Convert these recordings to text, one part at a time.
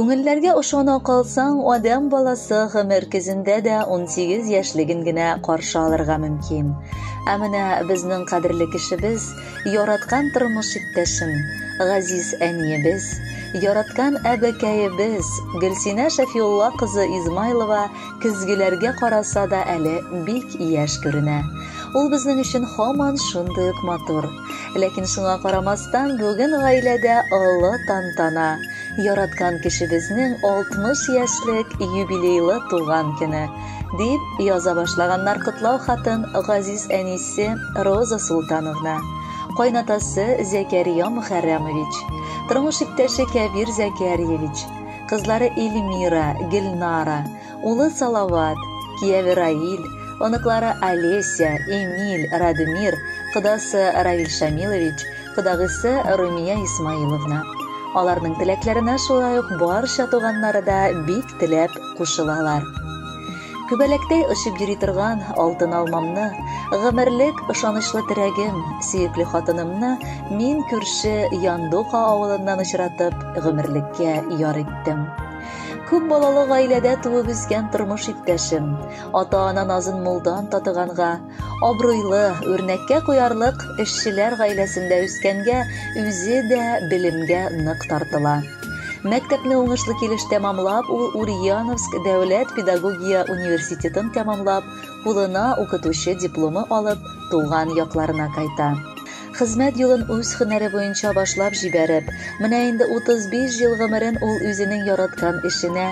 Күңелләргә ошана калсаң, адәм баласы гомер көзендә дә 18 яшьлеген генә каршы алырга мөмкин. Ә менә безнең кадерле кешебез Яраткан тормыш иптәшем, газиз әниебез, яраткан әбекәебез Гөлсинә Шәфиулла кызы Измайлова көзгеләргә караса да әле бик яшь күренә. Ул безнең өчен һаман шундый ук матур. Ләкин шуңа карамастан, бүген гаиләдә олы тантана, яраткан кешебезнең 60 яшьлек юбилейлы туган көне. дип яза башлаганнар котлау хатын газиз әнисе Роза Султановна, кайнатасы Зәкәрия Мөхәррәмович, тормыш иптәше Кәбир Зәкәрьевич, кызлары Эльмира, Гөлнара, улы Салават, кияве Раил, оныклары Олеся, Эмиль, Радмир, кодасы Равиль Шамилович, кодагысы Румия Исмаиловна. Аларның теләкләренә шулай ук барча туганнары да бик теләп кушылалар. Күбәләктәй очып йөри торган алтын алмамны, гомерлек ышанычлы терәгем, сөекле хатынымны мин күрше Яндука авылыннан очратып, гомерлеккә яр иттем. Күп балалы гаиләдә туып үскән тормыш иптәшем, ата-ана назын мулдан татыганга, Абруйлы, үрнәккә куярлык эшчеләр гаиләсендә үскәнгә, үзе дә белемгә нык тартыла. Мәктәпне уңышлы килеш тәмамлап, ул Ульяновск дәүләт педагогия университетын тәмамлап, кулына укытучы дипломы алып, туган якларына кайта. Хезмәт юлын үз һөнәре буенча башлап җибәреп, менә инде 35 ел гомерен ул үзенең яраткан эшенә,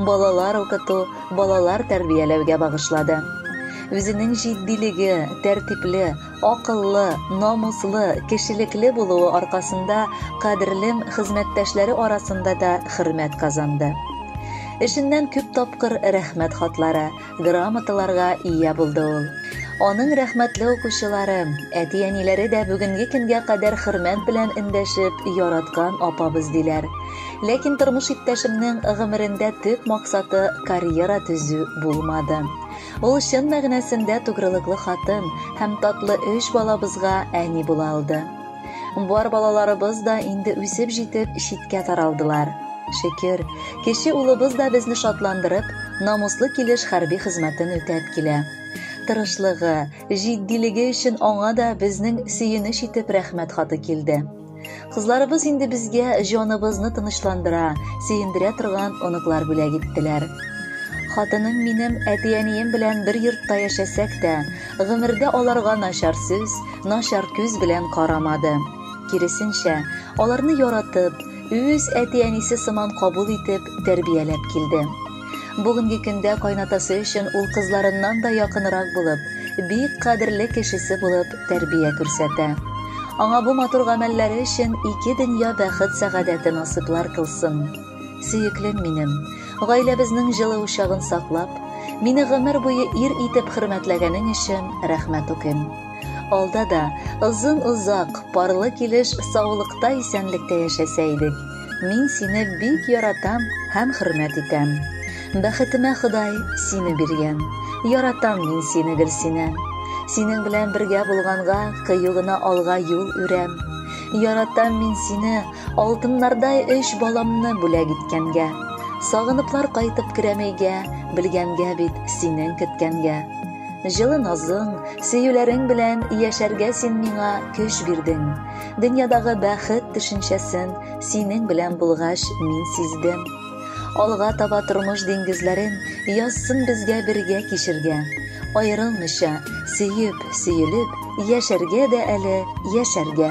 балалар укыту, балалар тәрбияләүгә багышлады. Үзенең җитдилеге, тәртипле, акыллы, намуслы, кешелекле булуы аркасында кадерлем хезмәттәшләре арасында да хөрмәт казанды. Эшеннән күп тапкыр рәхмәт хатлары, грамоталарга ия булды ул. Аның рәхмәтле укучылары, әти-әниләре дә бүгенге көнгә кадәр хөрмәт белән эндәшеп, яраткан апабыз диләр. Ләкин тормыш иптәшемнең гомерендә төп максаты карьера төзү булмады. Ул чын мәгънәсендә тугрылыклы хатын һәм татлы өч балабызга әни була алды. Бар балаларыбыз да инде үсеп җитеп, читкә таралдылар. Шөкер, кече улыбыз да безне шатландырып, намуслы килеш хәрби хезмәтен үтәп килә. Тырышлыгы, җитдилеге өчен аңа да безнең сөенеч итеп рәхмәт хаты килде. Кызларыбыз инде безгә җаныбызны тынычландыра, сөендерә торган оныклар бүләк иттеләр. Хатыным минем әти-әнием белән бер йортта яшәсәк тә, Гомердә аларга начар сүз, начар күз белән карамады. Киресенчә, аларны яратып, үз әти-әнисе сыман кабул итеп, тәрбияләп килде. Бүгенге көндә кайнатасы өчен ул кызларыннан да якынрак булып, бик кадерле кешесе булып тәрбия күрсәтә. Аңа бу матур гамәлләре өчен ике дөнья бәхет-сәгадәте насыйплар кылсын. Сөеклем минем, гаиләбезнең җылы учагын саклап, мине гомер буе ир итеп хөрмәтләгәнең өчен рәхмәт укыйм. Алда да озын-озак, парлы килеш саулыкта, исәнлектә яшәсә идек. Мин сине бик яратам һәм хөрмәт итәм. Бәхетемә Ходай сине биргән. Яратам мин сине, Гөлсинә. Синең белән бергә булганга, кыю гына алга юл үрәм. Яратам мин сине, Алтыннардай өч баламны бүләк иткәнгә. Сагыныплар кайтып керәмәйгә, белгәнгә бит синең кеткәнгә. Җылы назың, сөюләрең белән яшәргә син миңа көч бирдең. Дөньядагы бәхет төшенчәсен синең белән булгач мин сиздем. Алга таба тормыш диңгезләрен язсын безгә бергә кичергә. Аерылмыйча, сөеп, сөелеп, яшәргә дә әле, яшәргә.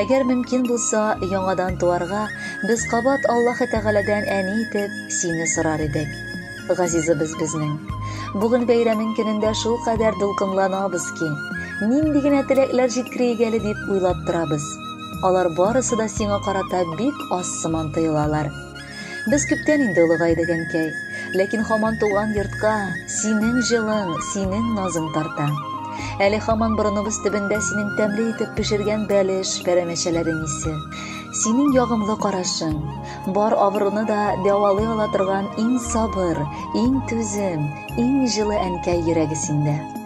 Әгәр мөмкин булса, яңадан туарга, без кабат Аллаһы Тәгаләдән әни итеп сине сорар идек. Газизыбыз безнең. Бүген бәйрәмең көнендә шул кадәр дулкынланабыз ки, нинди генә теләкләр җиткерәйек әле дип уйлап торабыз. Алар барысы да сиңа карата бик аз сыман тоелалар. Без күптән инде олыгайдык, әнкәй. Ләкин һаман туган йортка синең җылың, синең назың тарта. Әле һаман борыныбыз төбендә синең тәмле итеп пешергән бәлеш, пәрәмәчәләрең исе. Синең ягымлы карашың, бар авыруны да дәвалый ала торган иң сабыр, иң түзем, иң җылы әнкәй йөрәге синдә.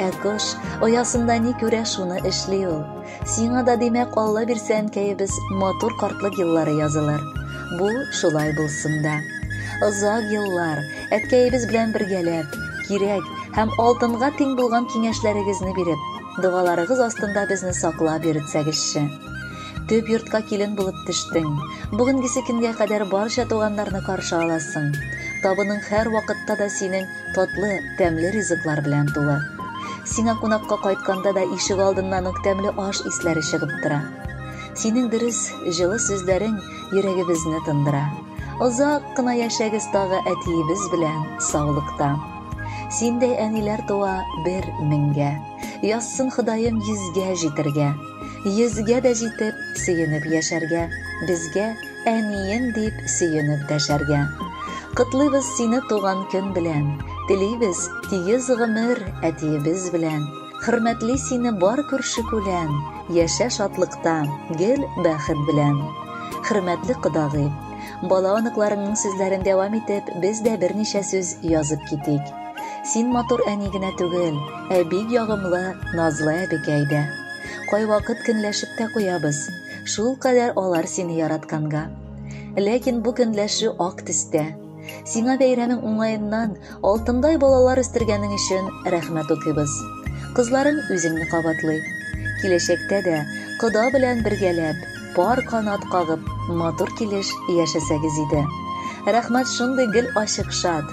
Ә кош оясында ни күрә, шуны эшли ул. Сиңа да, димәк, Алла бирсә, әнкәебез, матур картлык еллары язылыр. Бу шулай булсын да. Озак еллар әткәебез белән бергәләп, кирәк һәм алтынга тиң булган киңәшләрегезне биреп, догаларыгыз астында безне саклап йөртсәгезче. Төп йортка килен булып төштең. Бүгенгесе көнгә кадәр барча туганнарны каршы аласың. Табының һәр вакытта да синең Татлы, тәмле ризыклар белән тулы. Сиңа кунакка кайтканда да ишек алдыннан ук тәмле аш исләре чыгып тора. Синең дөрес, җылы сүзләрең йөрәгебезне тындыра. Озак кына яшәгез тагы әтиебез белән саулыкта. Синдәй әниләр туа бер меңгә. Язсын Ходаем йөзгә җитергә. Йөзгә дә җитеп, сөенеп яшәргә, безгә Әнием дип сөенеп дәшәргә. Котлыйбыз сине туган көн белән. Телибез тигез гомер әтиебез белән. Хөрмәтли сине бар күрше күлән. Яшә шатлыкта, гел бәхет белән. Хөрмәтле кодагый, бала оныкларыңның сүзләрен дәвам итеп, без дә берничә сүз язып китик. Син матур әни генә түгел, ә бик ягымлы, назлы әбекәй дә. Кайвакыт көнләшеп тә куябыз. Шул кадәр алар сине яратканга. Ләкин бу көнләшү ак төстә. Сиңа бәйрәмең уңаеннан алтындай балалар үстергәнең өчен рәхмәт укыйбыз. Кызларың үзеңне кабатлый. Киләчәктә дә кода белән бергәләп, пар канат кагып, матур килеш яшәсәгез иде. Рәхмәт шундый гел ачык шат,